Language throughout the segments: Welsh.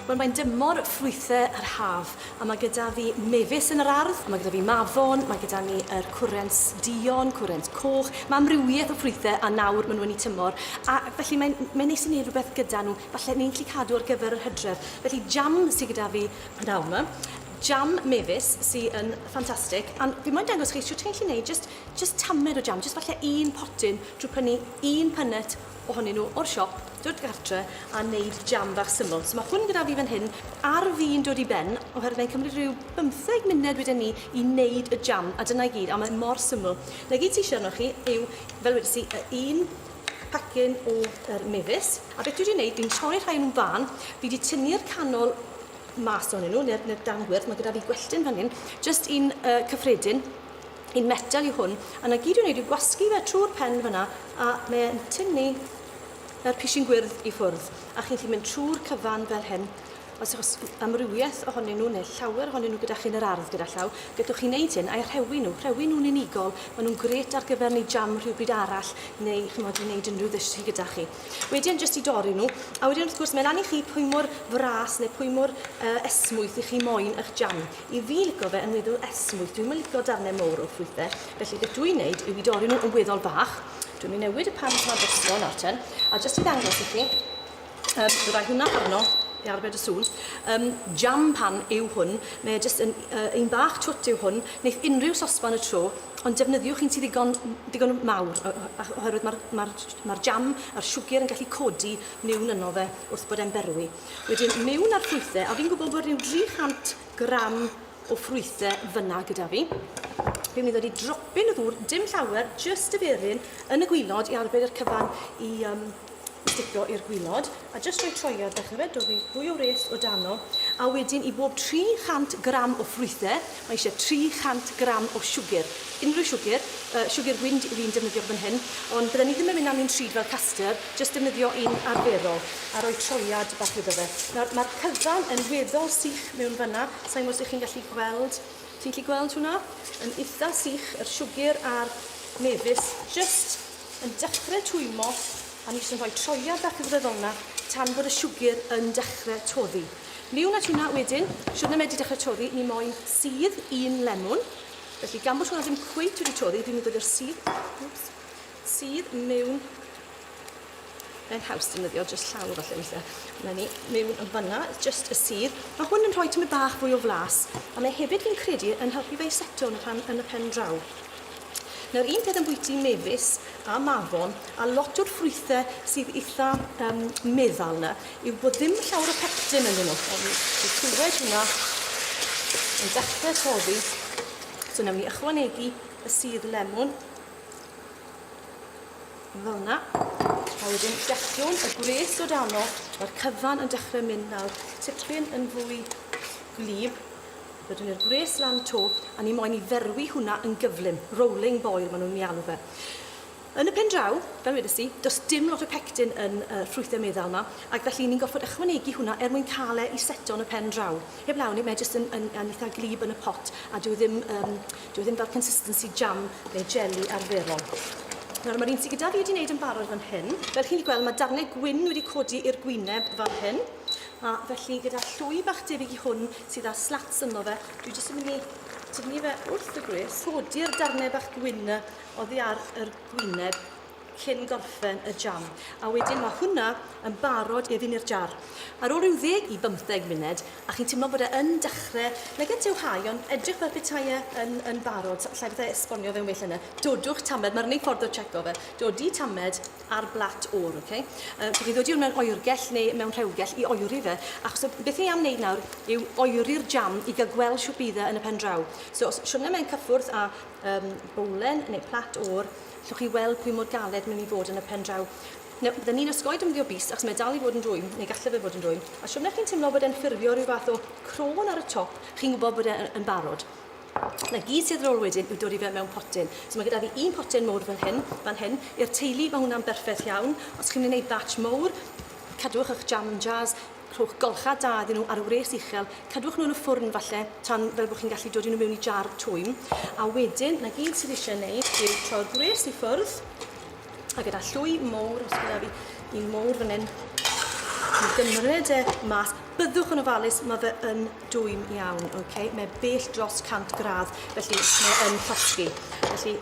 Wel mae'n dymor ffrwythe yr haf a mae gyda fi mefus yn yr ardd, a mae gyda fi mafon, mae gyda ni yr er cwrens dion, cwrens coch, mae amrywiaeth o ffrwythe a nawr maen nhw'n ei tymor a felly mae'n mae'n neis i wneud rhywbeth gyda nhw, falle ni'n gallu cadw ar gyfer yr hydref. Felly jam sydd gyda fi nawr ma, jam mefus sydd yn ffantastig a fi moyn dangos chi shwt ti'n gallu wneud jyst Jyst tamed o jam, jyst falle un potyn drwy prynu un punnet ohonyn nhw o'r siop, dod gartre a neud jam fach syml. So ma' hwn gyda fi fan hyn ar fin dod i ben oherwydd mae'n cymryd rhyw bymtheg munud wedyn ni i neud y jam a dyna i gyd a mae mor syml. Na gyd ti eisiau arnoch chi yw, fel wedys i, y un pacyn o yr mefus. A beth dwi wedi neud, fi'n troi rhai o nhw'n fân, fi wedi tynnu'r canol mas ohonyn nhw, neu'r, neu'r dan gwyrdd, mae gyda fi gwelltyn fan hyn, jyst un uh, cyffredin, un metel yw hwn, a na gyd i'w wneud yw gwasgu fe trwy'r pen fyna, a mae e'n tynnu yr pishin gwyrdd i ffwrdd, a chi'n gallu mynd trwy'r cyfan fel hyn, os yw'ch amrywiaeth ohonyn nhw neu llawer ohonyn nhw gyda chi yn yr ardd gyda llaw, gydwch chi'n neud hyn a'i rhewi nhw, rhewi nhw'n unigol, maen nhw'n gret ar gyfer neud jam rhywbryd arall neu chymod i wneud unrhyw ddish chi gyda chi. Wedyn jyst i dorri nhw, a wedyn wrth gwrs mae lan i chi pwy mor fras neu pwy mor uh, esmwyth i chi moyn eich jam. I fi lico fe yn weddw esmwyth. Dwi'm yn lico darnau mowr o ffrwythau, felly beth dwi'n neud yw i dorri nhw yn weddol bach. Dwi'n mynd newid y pan pan drosto nawr ten, a jyst i ddangos i chi, um, byddai hwnna arno i arbed y sŵn. Um, jam pan yw hwn, mae e jyst yn uh, un bach twt yw hwn, wneud unrhyw sosban y tro, ond defnyddiwch un sydd ddigon, ddigon mawr, oherwydd mae'r ma ma jam a'r siwgr yn gallu codi niwn yno fe wrth bod e'n berwi. Wedyn mewn â'r ffrwythau, a fi'n gwybod bod rhyw 300 gram o ffrwythau fyna gyda fi. Fi'n mynd i ddod i dropyn o ddŵr, dim llawer, just y beryn, yn y gwylod i arbed yr cyfan i um, sticio i'r gwylod, a just rhoi troiad, ddechrau fe, dod i fwy o wres o dano, a wedyn i bob 300 gram o ffrwythau, Mae eisiau 300 gram o siwgr, unrhyw siwgr, yy siwgr gwin dw i'n defnyddio fan hyn, ond bydden i ddim yn mynd â mi'n rhyd fel custard, jyst defnyddio un arferol a rhoi troiad bach iddo fe. Nawr, mae'r cyfan yn weddol sych mewn fan'na, sa i'n gwybod os ydych chi'n gallu gweld, ti'n gallu gweld hwnna? Yn itha sych, yr siwgr a'r mefus jyst yn dechrau twymmo a ni jyst yn rhoi troiad bach iddo fe fel 'na tan bod y siwgr yn dechrau toddi. Liwn a tuna wedyn, shwd na medri dechrau toddi, ni moyn sudd un lemwn. Felly gan bod hwnna ddim cweit wedi toddi, fi'n mynd i ddod sudd, oops, sudd mewn, mae'n haws defnyddio just llaw falle weithiau, na ni, mewn yn fanna, just y sudd. Mae hwn yn rhoi tymed bach fwy o flas, a mae hefyd fi'n credu yn helpu fe i seto yn y, pan, yn y pen draw. Nawr un peth ambwyty mefus a mafon a lot o'r ffrwythe sydd eitha um, meddal na yw bod ddim llawer o pectin yn nhw. Ond i clywed hwnna yn dechrau toddi. So nawr ni ychwanegu y sydd lemwn. Fel yna. A wedyn gellwn y gwres o dano. Mae'r cyfan yn dechrau mynd nawr tipyn yn fwy gwlyb. Wedyn i'r gwres lan 'to, a ni moyn i ferwi hwnna yn gyflym, rolling boil maen nhw'n ei alw fe. Yn y pen draw, fel wedes di, does dim lot o pectin yn y ffrwythau meddal yma, ac felly ni'n gorfod ychwanegu hwnna er mwyn cael e i seto yn y pen draw. Heb law ni, mae e jyst yn, yn, yn eitha glib yn y pot, a dyw e ddim, um, dyw e ddim fel consistency jam neu jelly arferol. Nawr, mae'r un sydd gyda fi wedi wneud yn barod fan hyn. Fel chi'n gallu gweld, mae darnau gwyn wedi codi i'r gwyneb fan hyn. A felly gyda'r llwy bach debyg i hwn sydd â slats ynddo fe, dwi jyst yn mynd i tynnu fe wrth y gwres, codi'r darnau bach gwyn na oddi ar yr gwyneb cyn gorffen y jam. A wedyn mae hwnna yn barod i ddyn i'r jar. Ar ôl rhyw ddeg i bymtheg munud, a chi'n teimlo bod e yn dechrau, nag at yw hau, ond edrych fel petai e yn, yn barod, llai bethau esbonio fe'n well yna. Dodwch tamed, mae'r unig ffordd o checo fe, dodi tamed, ar blat oer, ok? Yy, dwi 'di ddod i 'wn mewn oergell neu mewn rhewgell i oeri fe, achos y beth ni am wneud nawr yw oeri'r jam i gael gweld shwt bydd e yn y pen draw. So os siwrne mewn cyffwrdd â um, bowlen neu plat oer, llwch chi weld pwy mor galed mae'n mynd i fod yn y pen draw. Nawr, bydden ni'n osgoi defnyddio bys, achos mae dal i fod yn rwym, neu galle fe fod yn rwym. A siwrne chi'n teimlo bod e'n ffurfio rhyw fath o crôn ar y top, chi'n gwybod bod e'n yn barod. 'Na gyd sydd rôl wedyn yw dod i fe mewn potyn. So mae gyda fi un potyn mowr fel hyn, fan hyn. I'r teulu mae hwnna'n berffaith iawn. Os chi'n mynd i wneud batch mowr, cadwch eich jam yn jars, rhowch golchad da iddyn nhw ar wres uchel, cadwch nhw yn y ffwrn falle tan fel bod chi'n gallu dod i nhw mewn i jar twym. A wedyn, 'na gyd sydd eisiau wneud yw troi'r gwres i ffwrdd, a gyda llwy mowr, os gyda fi un mowr fan hyn, i gymryd e mas. Byddwch yn ofalus, mae fe yn Dwym iawn, ok. Mae e bell dros 100 gradd, felly mae e yn llosgi. Felly,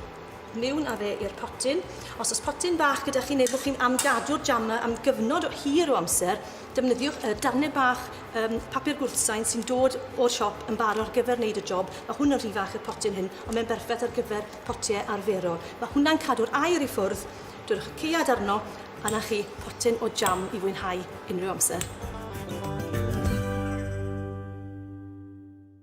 niwn a fe i'r potyn. Os oes potyn bach gyda chi neu bod chi'n am gadw'r jam 'na am gyfnod o hir o amser, defnyddiwch y darnau bach um, papur gwrthsain sy'n dod o'r siop yn bar ar gyfer wneud y job. Mae hwn yn rhy fach i'r potyn hyn, ond mae'n berffaith ar gyfer potiau arferol. Mae hwnna'n cadw'r aer i ffwrdd Dwrch caead arno a na chi potyn o jam i fwynhau unrhyw amser.